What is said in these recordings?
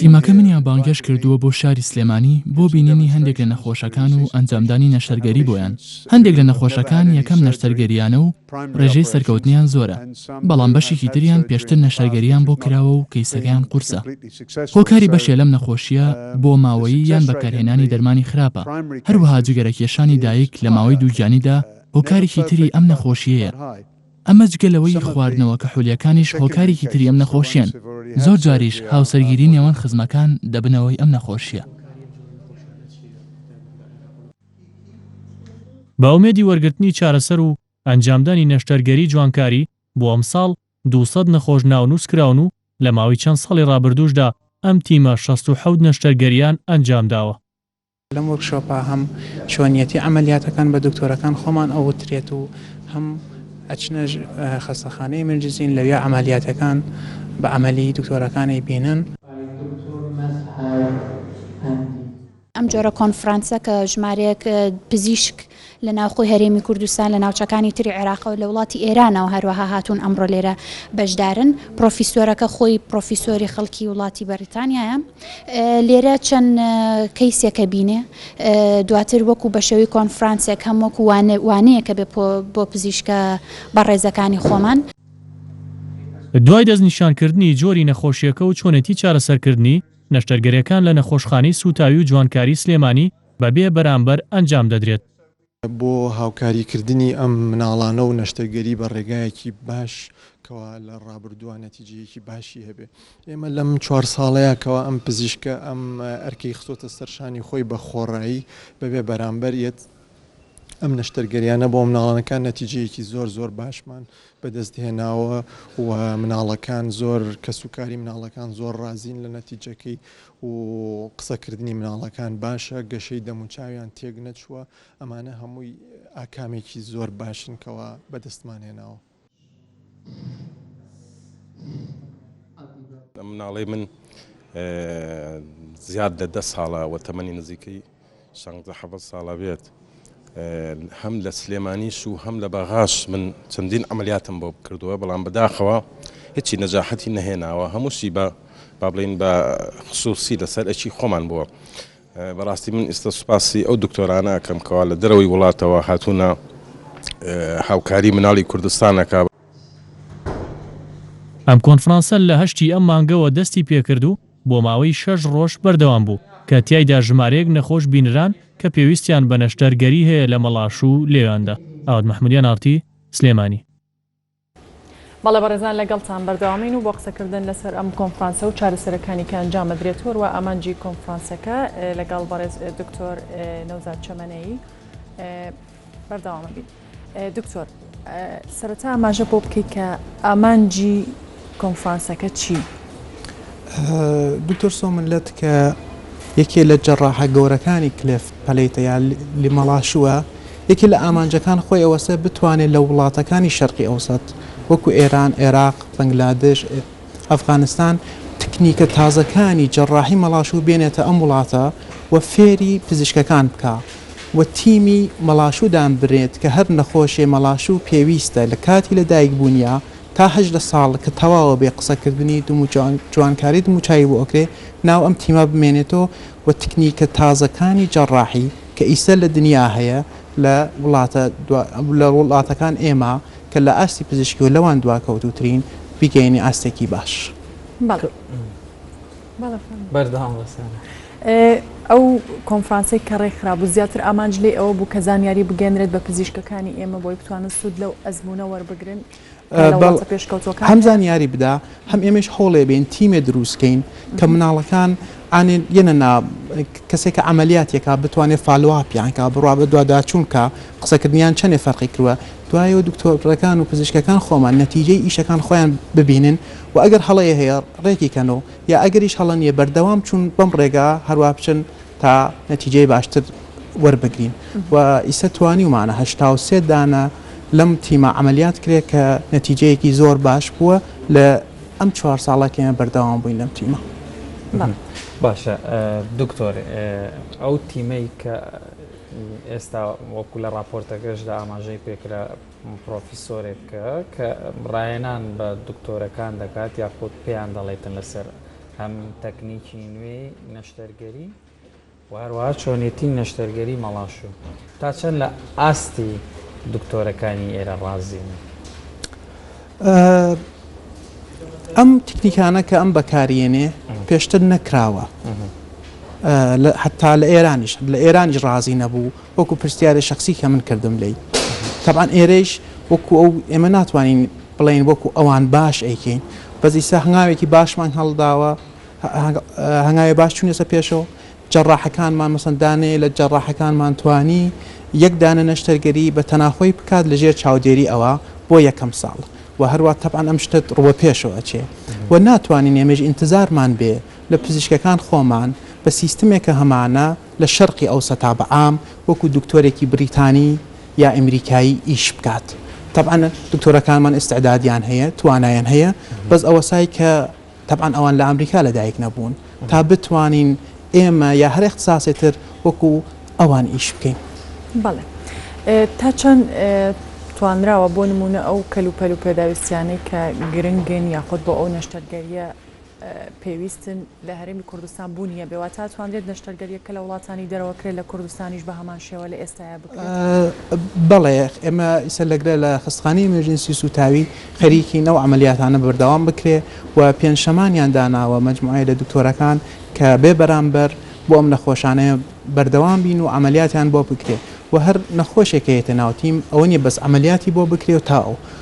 تیمەکە منیان بانگهێشت کردووە بۆ شاری سلێمانی بۆ بینینی هەندێک لە نەخۆشەکان و ئەنجامدانی نەشتەرگەری بۆیان، هەندێک لە نەخۆشەکان یەکەم نەشتەرگەرییانە و رێژەی سەرکەوتنیان زۆرە، بەڵام بەشێکی تریان پێشتر نەشتەرگەرییان بۆ کراوە و کەیسەکەیان قورسە. هۆکاری بەشێ لەم نەخۆشییە بۆ ماوەیی یان بەکارهێنانی دەرمانی خراپە، هەروەها جگەرەکێشانی دایک لە ماوەی دووگیانیدا هۆکارێکی تری ئەم نەخۆشییەیە. ئەمە جگە لەوەی خواردنەوە کحولیەکانیش هۆکارێکی تری ئەم نەخۆشیەن، زۆر جاریش هاوسەرگیری نێوان خزمەکان دەبنە هۆی ئەم نەخۆشیە. بە ئومێدی وەرگرتنی چارەسەر و ئەنجامدانی نەشتەرگەری جوانکاری، بۆ ئەمساڵ دوو سەد نەخۆش ناونووس کراون و لە ماوەی چەند ساڵی ڕابردووشدا ئەم تیمە شەست و حەوت نەشتەرگەریان ئەنجامداوە. لەم وۆرکشۆپە هەم چۆنیەتی عەمەلیاتەکان بە دکتۆرەکان خۆمان ئەوترێت و هەم ئەچنە خەستەخانەی ملجزین لەویا عەمەلیاتەکان بە عەمەلی دکتۆرەکان ئەیبینن. ئەم جۆرە کۆنفرانسە کە ژمارەیەک پزیشک، لە ناوخۆی هەرێمی کوردستان، لە ناوچەکانی تری عێراقەوە، لە وڵاتی ئێرانەوە هەروەها هاتوون ئەمڕۆ لێرە بەشدارن. پڕۆفیسۆرەکە خۆی پڕۆفیسۆری خەڵکی وڵاتی بەڕیتانیایە. لێرە چەند کەیسێک ئەبینێ. دواتر وەکوو بە شێوەی کۆنفرانسێک هەم وەکوو وانە وانەیەک ئەبێ پۆ بۆ پزیشکە بەڕێزەکانی خۆمان. دوای دەستنیشانکردنی جۆری نەخۆشییەکە و چۆنێتی چارەسەرکردنی، نەشتەرگەرێکان لە نەخۆشخانەی سووتاوی و جوانکاری سلێمانی، بە بێ بەرامبەر ئەنجام دەدرێت. بۆ هاوکاری کردنی ئەم مناڵانە و نەشتەرگەری بە ڕێگایەکی باش کەوا لە ڕابردووا نەتیجەیەکی باشی هەبێ. ئێمە لەم چوار ساڵەیا کەوا ئەم پزیشکە ئەم ئەرکەی خستۆتە سەر شانی خۆی بە خۆڕایی بە بێ بەرامبەر یەت ئەم نەشتەرگەریانە بۆ مناڵانەکان نەتیجەیەکی زۆر زۆر باشمان بە دەست هێناوە و مناڵەکان زۆر کەس و کاری مناڵەکان زۆر ڕازین لە نەتیجەکەی و قسەکردنی مناڵەکان باشە گەشەی دەموچاویان تێک نەچووە ئەمانە هەمووی ئاکامێکی زۆر باشن کەوا بەدەستمان هێناوە. مناڵی من زیاد لە دە ساڵە وە تەمەنی نزیکەی شانزە حەڤەت ساڵە بێت هەم لە سلێمانیش و هەم لە بەغاش من چەندین ئەمەلیاتم بۆ بکردووە بەڵام بەداخەوە هیچی نەجاحەتی نەهێناوە هەمووشی بە با بڵین بە خصوصی لەسەر ئەچی خۆمان بووە بەڕاستی من ئێستا سوپاسی ئەو دکتۆرانە ئەکەم کەوا لە دەرەوەی وڵاتەوە هاتوونە هاوکاری مناڵی کوردستانەکە ئەم کۆنفرانسە لە هەشتی ئەم مانگەوە دەستی پێکرد و بۆ ماوەی شەش ڕۆژ بەردەوام بوو، کە تیایدا ژمارەیەک نەخۆش بینران کە پێویستیان بە نەشتەرگەری هەیە لە مەڵاش و لێواندا. ئاوات محمود، ئێن ئاڕ تی، سلێمانی. بەڵێ بەڕێزان لەگەڵتان بەردەوامین و بۆ قسەکردن لەسەر ئەم کۆنفرانسە و چارەسەرەکانی کە ئەنجام ئەدرێت و هەروە ئامانجی کۆنفرانسەکە لەگەڵ بەڕێز دکتۆر نەوزاد چەمەنەیی، بەردەوامە بیت دکتۆر. سەرەتا ئاماژە بۆ بکەیت کە ئامانجی کۆنفرانسەکە چی؟ دکتۆر سۆمن لە تکە یەکێ لە جەڕاحە گەورەکانی کلێف پەلیتە یا لیمەڵاشووە یەکێ لە ئامانجەکان خۆی ئەوەسە بتوانێت لە وڵاتەکانی شەرقی ئەوسەت وەکو ئێران عێراق بەنگلادش ئەفغانستان تکنیکە تازەکانی جەڕاحی مەڵاشوو بێنێتە ئەم وڵاتە و فێری پزیشکەکان بکە و تیمی مەڵاشوو دانبرێت کە هەر نەخۆشێ مەڵاشوو پێویستە لە کاتی لە دایک بوونیا تا هەژدە ساڵ کە تەواوە بێ قسە کردنی دموو جوانکاری دموو چاوی بۆ ئەکرێ ناو ئەم تیمە بمێنێتۆ و تکنیکە تازەکانی جەڕاحی کە ئیستە لە دنیا هەیە لە وڵاتە لە وڵاتەکان ئێمە کە لە ئاستی پزیشکی و لەوان دواکەوتووترین بیگەیەنی ئاستێکی باش. بەردەوام بە سارا. ئەو کۆنفرانسەی کە ڕێکخرا بوو زیاتر ئامانج لێی ئەوە بوو کە زانیاری بگەێنرێت بە پزیشکەکانی ئێمە بۆی بتوانن سوود لەو ئەزمونە وەربگرن هەم زانیاری بدا هەم ئێمەش هەوڵێ بێن تیمێ دروستکەین کە مناڵەکان ئاێن یەنە نا کەسێکە ئەعملیاتێکا بتوانێت فالواپیانکە بڕوا بە دوواداچوونکە قسەکردنیان چەندێ فەرقی کردوە دوایەوە دکتۆرەکان و پزیشکەکان خۆمان نەتیجەی ئیشەکان خۆیان ببینن وە ئەگەر هەڵەیە هەیە ڕێکی کەن و یا ئەگەریش هەڵە نیە بەردەوام چون بەم ڕێگا هەروا بچن تا نەتیجەی باشتر وەربگرین و ئیستا توانیومانە هەشتا و سێ دانە لەم تیمە عەمەلیات کرێ کە نەتیجەیەکی زۆر باش بووە لە ئەم چوار ساڵە کە ئێمە بەردەوام بووین لەم تیمە. باشە دکتۆر ئەو تیمەی کە ئێستا وەکو لە ڕاپۆرتەکەشدا ئاماژەی پێکرا پڕۆفیسۆرێک کە ڕاهێنان بە دکتۆرەکان دەکات یاخود پێیان دەڵێتن لەسەر هەم تەکنیکی نوێی نەشتەرگەری و هەروەها چۆنێتی نەشتەرگەری مەڵاشوو تا چەند لە ئاستی دکتۆرەکانی ئێرە ڕازین؟ ئەم تکنیکانە کە ئەم بەکاریێنێ پێشتر نەکراوە حتا لە ئێرانیش لە ئێرانیش ڕازی نەبوو وەکو پرسیارێ شەخسی کە من کردم لێی تەبعەن ئێرەیش وەکو ئەو ئێمە ناتوانین بڵێین وەکو ئەوان باش ئەیکەین بەس ئیستا هەنگاوێکی باشمان هەڵداوە هەنگاوێ باش چوونەسە پێشەوە جەڕاحەکانمان مەسەن دانەیە لە جەڕاحەکانمان توانی یەک دانە نەشتەرگەری بە تەناخۆی بکات لەژێر چاودێری ئەوە بۆ یەکەم ساڵ و هەروە تەبعەن ئەم شتت ڕووە پێشەوە ئەچێ و ناتوانین ئێمەش ئینتزارمان بێ لە پزیشکەکان خۆمان بە سیستمێکە هەمانە لە شەرقی ئەوسەتا بە عام وەکو دکتۆرێکی بریتانی یا ئەمریکایی ئیش بکات تەبعەن دکتۆرەکانمان ئیستعدادیان هەیە توانایان هەیە بەس ئەوەسای کە تەبعەن ئەوان لە ئەمریکا لە دایک نەبوون تا بتوانین ئێمە یا هەر ئیختساسێ تر وەکو ئەوان ئیش بکەین. بەڵێ تا چەند توانراوە بۆ نمونە ئەو کەلوپەل و پێداویستیانەی کە گرنگن یاخود بۆ ئەو نەشتەرگەریە پێویستن لە هەرێمی کوردستان بوونی هەبێ واتە ئەتوانرێت نەشتەرگەرییەک کە لە وڵاتانی دەرەوە کرێت لە کوردستانیش بە هەمان شێوە لە ئێستایا بکرێت؟ بەڵێ ئێمە ئیسە لەگرە لە خستخانی ئمێرجنسی سوتاوی خەریکین ئەو عملیاتانە بەردەوام بکرێ و پێنجشەمانیان داناوە مجموعەیە لە دکتۆرەکان کە بێ بەرامبەر بۆ ئەم نەخۆشانەیە بەردەوام بین و عملیاتیان بۆ بکرێ و هەر نەخۆشێکەیەتە ناو تیم ئەوە نیە بەس عملیاتی بۆ بکرێ و تا ئەو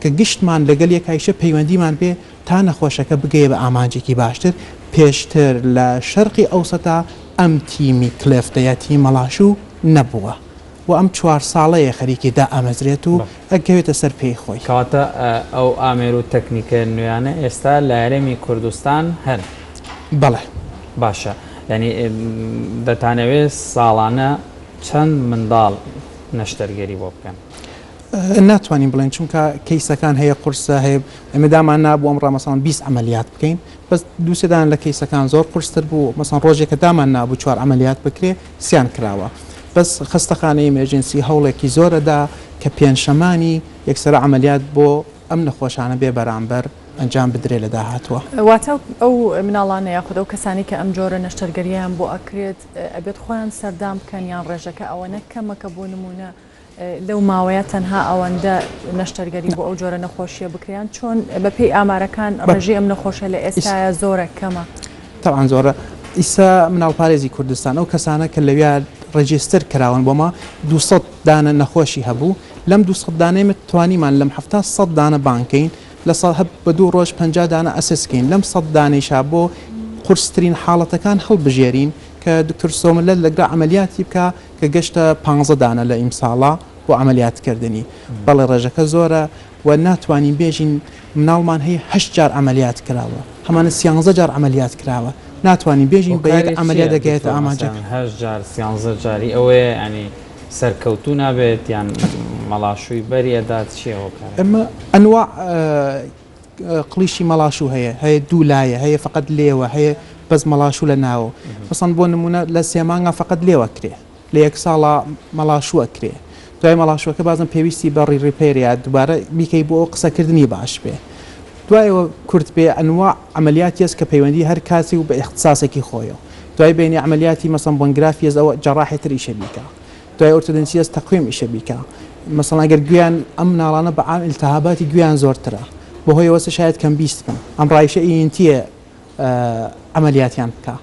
کە گشتمان لەگەل یەک هایشە پەیوەندیمان پێ تا نەخۆشەکە بگەیە بە ئامانجێکی باشتر، پێشتر لە شەرقی ئەوسەتا ئەم تیمی کلێفتە یا تیمی مەڵاشوو نەبووە و ئەم چوار ساڵەیە خەریکی دائەمەزرێت و ئەگەوێتە سەر پێی خۆی. کەواتە ئەو ئامێر و تەکنیکە نوێیانە ئێستا لە هەرێمی کوردستان هەن؟ بەڵێ. باشە یانی دەتانەوێت ساڵانە چەند منداڵ نەشتەرگەری بۆ بکەن؟ ناتوانین بڵێن چونکە کەیسەکان هەیە قورسە هەیە ئەمە دامان نابوو ئەم ڕامەسان 20 ئەعملیات بکەین بەس دووسێدان لە کەیسەکان زۆر قرستر بوو مەسان ڕۆژێکە دامان نابوو چوار ئەعملیات بکرێ سیان کراوە بەس خستەخانەی ئمێرجنسی هەوڵێکی زۆرەدا کە پێنجشەمانی یەکسەر ئەعملیات بۆ ئەم نەخۆشانە بێ بەرامبەر ئەنجام بدرێ لە داهاتوە. واتە ئەو مناڵانە یاخود ئەو کەسانەی کە ئەم جۆرە نەشتەرگەرییان بۆ ئەکرێت ئەبێت خۆیان سەردان بکەن یان ڕێژەکە ئەوەنە کەمە کە بۆ نمونە لەو ماوەیە تەنها ئەوەندە نەشتەرگەری بۆ ئەو جۆرە نەخۆشیە بکریان چۆن بەپێی ئامارەکان ڕژی ئەم نەخۆشە لە ئێستاە زۆرە کەمە تاوان زۆرە ئیسا مناڵ پارێزی کوردستان ئەو کەسانە کە لەویا ڕێجستر کراون بۆمە 200 دانە نەخۆشی هەبوو لەم 200 دانێمە توانیمان لەم هەفتا سە دانە بانکەین لە سا هەب بە دوو ڕۆژ پ دانە ئەسسکەین لەم سە دانیشا بۆ قورسترین حاڵەتەکان هەڵبژێرین کە دکتۆر سۆملە لەگرا ئەعملیاتی بکە کە گەشتە پانزە دانە لە ئیمساڵە بۆ عەمەلیات کردنی بەڵێ ڕێژەکە زۆرە و ناتوانین بێژین مناڵمان هەیە هەشت جار عەمەلیات کراوە هەمانە سیانزە جار عەمەلیات کراوە ناتوانین بێژین بە یەک عەمەلیات دەگەیەتە ئامانجەکە. هەشت جار سیانزە جاری ئەوەیە یانی سەرکەوتوو نابێت یان مەڵاشووی بەری ئەدات چیە هۆکارەکە؟ ئەنواع. قڵیشی مەڵاشوو هەیە هەیە دوو لایە هەیە فقط لێوە هەیە بەس مەڵاشوو لە ناوە مەسەن بۆ نمونە لە سێمانگا فقط لێوە کرێ لە یەک ساڵا مەڵاشووە کرێ دوای مەڵاشوەکە بازم پێویستی بە ڕی ڕیپەیرە دووبارە بیکەی بۆ ئەو قسەکردنی باش بێ دوایەوە کورت بێ ئەنوا عملیاتی هەست کە پەیوەندی هەر کاسی و بە اختصاسێکی خۆیەوە دوای بینی عملیاتی مەسەن بۆنگرافیەز ئەوە جەڕاحێتر ئیشە بیکە دوای ئۆرتۆدۆنتیەس تەقویم ئیشە بیکە مەسەڵەن گەر گوێیان ئەم مناڵانە بە عام ئیلتهاباتی گوێیان زۆرترە بەهۆی ئەوەسە شایەد کەم بیست بن ئەم ڕایشە ئی ئین تیە عەمەلیاتیان بکا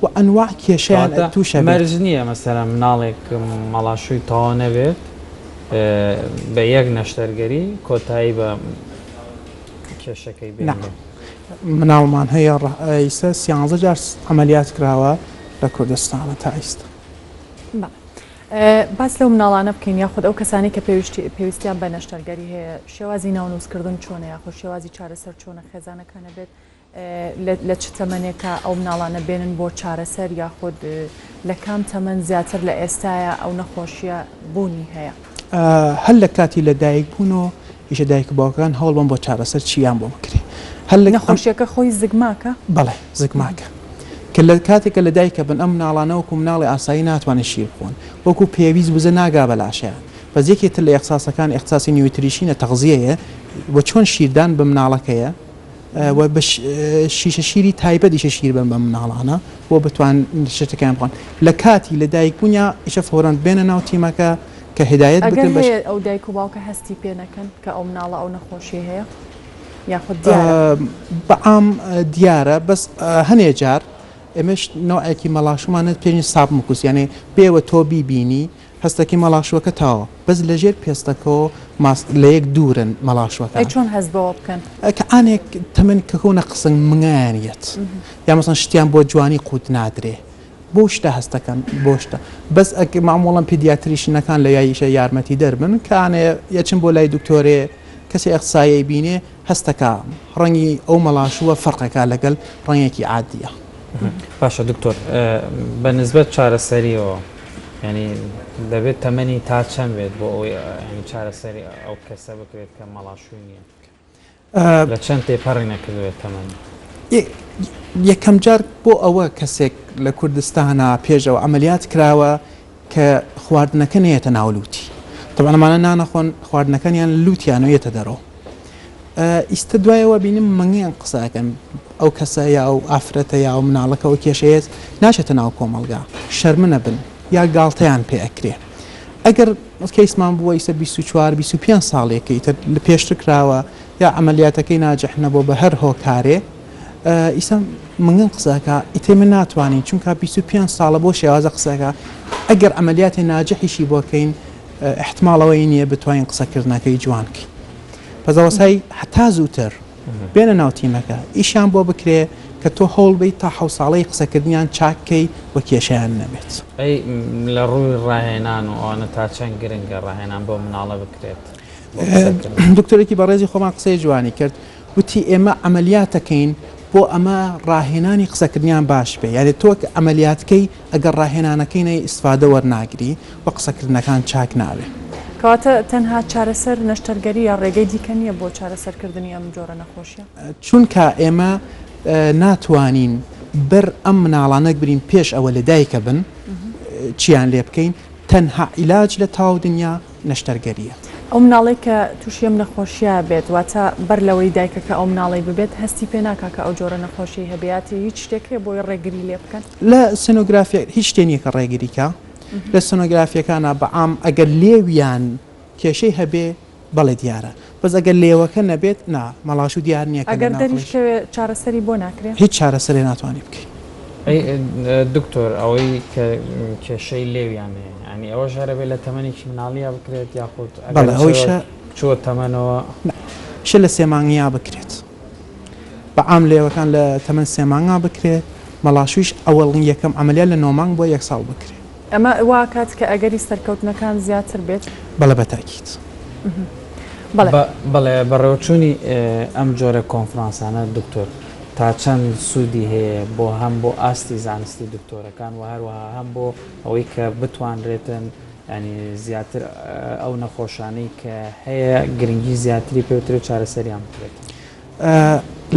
وە ئەنواع کێشەیان کەواتە تووشە بێ. مەرج نیە مەسەلەن مناڵێک مەڵاشووی تەواو نەبێت بە یەک نەشتەرگەری کۆتایی بە کێشەکەی نا بێنێ. مناڵمان هەیە ڕە ئیسە سیانزە جار عەمەلیات کراوە لە کوردستانە تا ئیستا. باس لەو مناڵانە بکەین یاخود ئەو کەسانی کە پێویستی پێویستیان بە نەشتەرگەری هەیە شێوازی ناونووسکردن چۆنە یاخود شێوازی چارەسەر چۆنە خێزانەکانە بێت لە چ تەمەنێکە ئەو مناڵانە بێنن بۆ چارەسەر یاخود لە کام تەمەەن زیاتر لە ئێستاە ئەو نەخۆشیە بوونی هەیە. هەر لە کاتی لە دایک بوون و ئیشە دایک و باوکەکان هەوڵ بەن بۆ چارەسەر چیان بۆ بکرێ هەر لە نەخۆشیەکە خۆی زگماکە؟ بەڵێ زگماکە کە لە کاتێکە لە دایکە بن ئەم مناڵانە وەکو مناڵی ئاسایی ناتوانن شیر بخۆن وەکو پێویست وزە ناگا بە لاشەیان بەس یەکێ تر لە ئێخساسەکان ئێخساسی نیوتریشینە تەغزیەیە و چۆن شیردان بە مناڵەکەیە و بە شیشە شیری تایبەت ئیشە شیر بەن بە مناڵانە بۆ بتوان شتەکان بڵن لە کاتی لە دایک بوونیا ئیشە فۆرەند بێنە ناو تیمەکە کە هدایەت بگەن بەش ئەو دایک و باوکە هەستی پێ نەکەن کە ئەو مناڵە ئەو نەخۆشی هەیە یاخود بەعام دیارە بەس هەنێ جار ئێمەش نوعێکی مەڵاشمانە پێنی ساب مکوسیانێ پێوە تۆ بیبینی هەستەکەی مەڵاشوەکە تاوە بەس لە ژێر پێستەکەوە ماست لە یەک دوورن مەڵاشوەکە. ئەی چۆن هەست بەوە بکەن؟ کە ئانێک تەمەن کە کەونە قسنگ منگایان یەت یا مەسەن شتیان بۆ جوانی قوت نادرێ بۆ شتە هەستەکەن بۆ شتە بەس ئەک مامۆڵەن پیدیاتریشنەکان لە یاییشە یارمەتی دەر بن کە ئانێ یەچن بۆ لای دکتۆرێ کەسێ ئەخسایەی بینێ هەستەکە ڕەنگی ئەو مەڵاشوە فەرقەکا لەگەل ڕەنگێکی عادیە. باشە دکتۆر بە نسبەت چارەسەریەوە. یانی دەبێت تەمەنی تا چەند بێت بۆ ئەوەی یانی چارەسەری ئەو کەسە بکرێت کە مەڵاشووی نییە؟ لە چەند تێپەڕی نەکردوێت تەمەنی؟ یەکەم جار بۆ ئەوە کەسێک لە کوردستانا پێش ئەوە عەمەلیات کراوە کە خواردنەکە نەیەتە ناو لووتی. تەبعەن ئەمانە نانەخۆن خواردنەکانیان لە لووتیانەوە یەتە دەرەوە. ئیستە دوای ئەوە بینم مەنگیان قسە ئەکەن ئەو کەسە یا و ئافرەتە یا و مناڵەکە ئەو کێشەیەت ناچێتە ناو کۆمەڵگا شەرمە نەبن یا گاڵتەیان پێ ئەکرێ ئەگەر کەیسمان بووە ئیسە 24 25 ساڵێکی تر لە پێشتر کراوە یا ئەمەلیاتەکەی ناجح نەبوو بە هەر هۆکارێ ئیسە منگن قسەکە ئیتێ من ناتوانین چونکە 25 ساڵە بۆ شێوازە قسەکە ئەگەر ئەمەلیاتی ناجحیشی بۆکەین احتماڵەوەی نییە بتوانین قسەکردنەکەی جوانکەین پەزەوەسای هەتا زووتر بێنە ناو تیمەکە ئیشیان بۆ بکرێ کە تۆ هەوڵ بیت تا حەو ساڵەی قسەکردنیان چاککەی و کێشیان نەبێت. ئەی لە ڕووی ڕاهێنان و ئەوانە تا چەند گرنگە ڕاهێنان بەو مناڵە بکرێت؟ دکتۆرێکی بەڕێزی خۆمان قسەی جوانی کرد وتی ئێمە عملیاتەکەین بۆ ئەمە ڕاهێنانی قسەکردنیان باش بێ یاێ تۆک ئەعملیاتکەی ئەگەر ڕاهێنانەکەی نەی ئیستفادە وەرناگری و قسەکردنەکان چاک نابێ. کەواتە تەنها چارەسەر نەشتەرگەرییە ڕێگەی دیکە نییە بۆ چارەسەرکردنی ئەم جۆرە نەخۆشیە؟ چونکا ئێمە ناتوانین بەر ئەم مناڵانە بگرین پێش ئەوە لەدایکەبن چیان لێبکەین تەنها عیلاج لە تاو دنیا نەشتەرگەرییە. ئەو مناڵەی کە تووشی ئەم نەخۆشییە بێت، واتە بەر لەوەی دایکەکە ئەو مناڵەی ببێت، هەستی پێ ناکات کە ئەو جۆرە نەخۆشیەی هەبیاتی، هیچ شتێک هەیە بۆی ڕێگری لێ بکەن؟ لە سۆنۆگرافیا هیچ شتێ نییە کە ڕێگری کا، لە سۆنۆگرافیەکانا بە عام ئەگەر لێویان کێشەی هەبێ بەڵێ دیارە، بەس ئەگەر لێوەکە نەبێت نا مەڵاشو دیار نیە کە لە ئەگەر ناخۆش. دەریشکەوێ چارەسەری بۆ ناکرێ؟ هیچ چارەسەرێ ناتوانی بکەی. ئەی دکتۆر ئەوەی کە کێشەی لێویان هەیە یانی ئەوەش هەرەبێ لە تەمەنێکی مناڵیا بکرێت یاخود ئەگەر بەڵێ ئەوەی شە کچەوە چووە تەمەنەوە. نا شە لە سێ مانگیا بکرێت بە عام لێوەکان لە تەمەن سێ مانگا بکرێت مەڵاشویش ئەوەڵ یەکەم عەمەلیات لە نۆ مانگ بۆ یەک ساڵ بکرێت. ئەمە وا ئەکات کە ئەگەری سەرکەوتنەکان زیاتر بێت؟ بەڵێ بە تاکید. بەڵێ. بەڵێ بەڕێوەچوونی ئەم جۆرە کۆنفرانسانە دکتۆر تا چەند سوودی هەیە بۆ هەم بۆ ئاستی زانستی دکتۆرەکان و هەروەها هەم بۆ ئەوەی کە بتوانرێتن یانی زیاتر ئەو نەخۆشانەی کە هەیە گرنگی زیاتری پێ بدرێت چارەسەریان بکرێت؟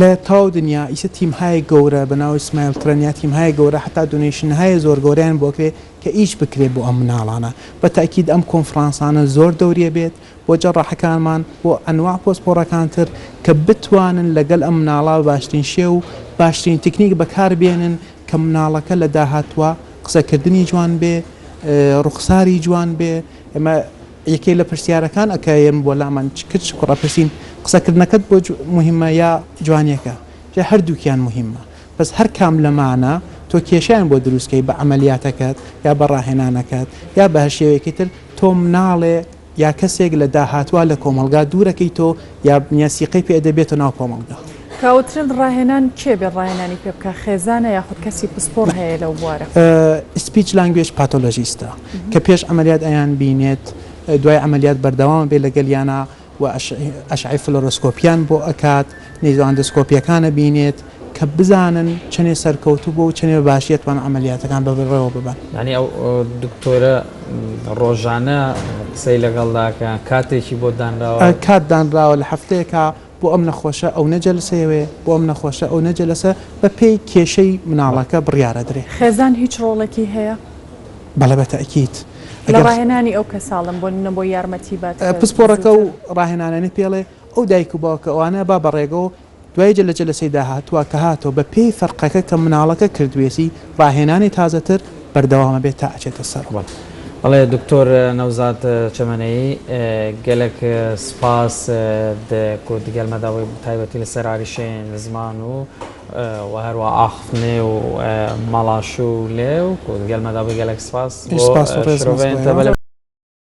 لە تەواو دنیا ئیسە تیم هایە گەورە بە ناو ئیسمایل ترەن یا تیم هایە گەورە حەتا دونەیشن هایە زۆر گەورەیان بۆ کرێ کە ئیش بکرێ بۆ ئەم مناڵانە بە تەئکید ئەم کۆنفرانسانە زۆر دەوریە بێت بۆ جەڕاحەکانمان بۆ ئەنواع پۆسپۆڕەکان تر کە بتوانن لە گەل ئەم مناڵە باشترین شێ و باشترین تکنیک بە کار بێنن کە مناڵەکە لە داهاتوا قسە کردنی جوان بێ ڕوخساری جوان بێ ئێمە یەکێ لە پرسیارەکان ئەکە یێم بۆ لامان چ کرد چ کوڕە پرسیم قسە کردنەکەت بۆ موهیمە یا جوانیەکە جا هەردووکیان موهیمە بەس هەر کام لەمانە تۆ کێشەیان بۆ دروست کەی بە عەمەلیاتەکەت یا بە ڕاهێنانەکەت یا بە هەر شێوەیەکی تر تۆ مناڵێ یا کەسێک لە داهاتوا لە کۆمەڵگا دوورەکەیتۆ یا بنیە سیقەی پێ ئەدە بێتۆ ناو کۆمەڵگا. کاوترین ڕاهێنان کێ بێ ڕاهێنانی پێ بکا خێزانە یاخود کەسی پسپۆڕ هەیە لەو بوارە؟ سپیچ لانگوێج پاتۆلۆژیستە کە پێش عەمەلیات ئەیان بینێت دوای عەمەلیات بەردەوامە بێ لەگەلیانا و ئەشعەی فلۆرۆسکۆپیان بۆ ئەکات نێزۆئەندۆسکۆپیەکان ئەبینێت کە بزانن چەنێ سەرکەوتوو بووە و چەنێ بە باشی ئەتوانن عەمەلیاتەکان بەڕێوە ببەن. یانی ئەو دکتۆرە ڕۆژانە قسەی لەگەڵ داکا کاتێکی بۆ دانراوە؟ کات دانراوە لە هەفتەیەکا بۆ ئەم نەخۆشە ئەونە جەلسەیەوێ بۆ ئەم نەخۆشە ئەونە جەلسە بە پێی کێشەی مناڵەکە بڕیارەدرێ. خێزان هیچ ڕۆڵێکی هەیە؟ بەڵێ بە تەئکید. لە ڕاهێنانی ئەو کەساڵم بۆ نمونە بۆ یارمەتی بات کە پسپۆڕەکە و زوتر. ڕاهێنانەنی پێڵێ ئەو دایک و باوکە ئەوانە با بەڕێگەوە دوای جە لە جەلسەی داهاتووە کە هاتەوە بە پێی فەرقەکە کە مناڵەکە کردوێسی ڕاهێنانی تازەتر بەردەوامە بێت تا ئەچێتە سەر. بەڵێ دکتۆر نەوزاد چەمەنەیی گەلەک سپاس کو دگەل مەدا وەی تایبەتی لە سەر ئاریشەێن زمان و وە هەروا ئاخفتنێ و مەڵاشوو لێو کو دگەل مەدا وەی گەلەک سپاس بۆ شرۆڤەێن تەبەلە.